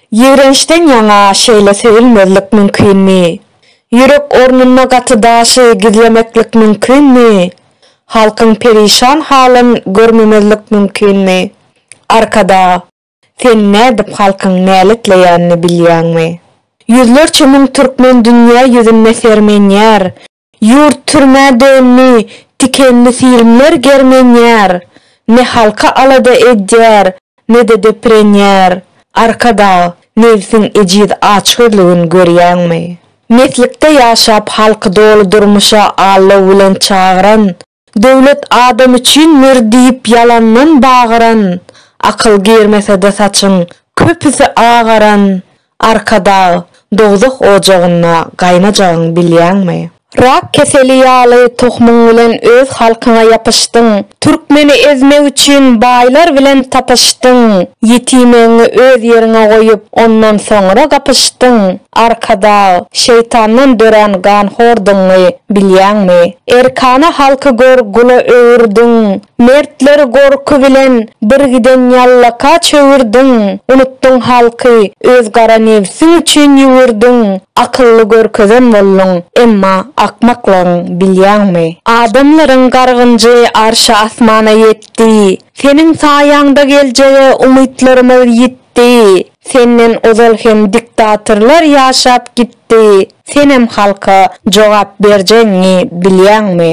Ýigrençden ýaňa şeýle söýülmezlik mümkinmi? Ýürek ornunda gaty daşy gizlemeklik mümkinmi? Halkyň perişan halyn görmemezlik mümkinmi? Arkadag! Sen nädip halkyň näletleýänini bilýäňmi? Ýüzlerçe müň türkmen dünýä ýüzünde sermenýär, Ýurt türmä döndi, tikenli filmler germenýär, ne halka alada edýär, ne-de depirenýär. Arkadag, nebsiň ejiz açgözlügin görýäňmi? Meslikde ýaşap halky doly durmuşa allaw bilen çagyran, Döwlet adam üçin mür diýip ýalandan bagyran Akyl girmesede saçyň köpüsi agaran Arkadag dowzah ojagynda gaýnajagyn bilýäňmi? Rak keseli ýaly tohumyň bilen öz halkyňa ýapyşdyň Türkmeni ezmek üçin baýlar bilen tapyşdyň Ýetimegiňi öz ýeriňe goýup ondan soňra gapyşdyň Arkadag, şeýtandan dörän ganhordygyňy bilýäňmi? Erkana halky gör gula öwürdiň, mertleri gorky bilen bir giden ýallaka çöwürdiň, unutdyň halky, öz gara nebsiň üçin ýüwürdiň, akylly görkezen bolduň, emma akmaklygyň bilýäňmi? Adamlaryň gargynjy arşa-asmana ýetdi, seniň saýaňda geljege umytlarymyz ýitdi, Senden ozal hem diktatorlar ýaşap gitdi, senem halka jogap berjegiňi bilýäňmi?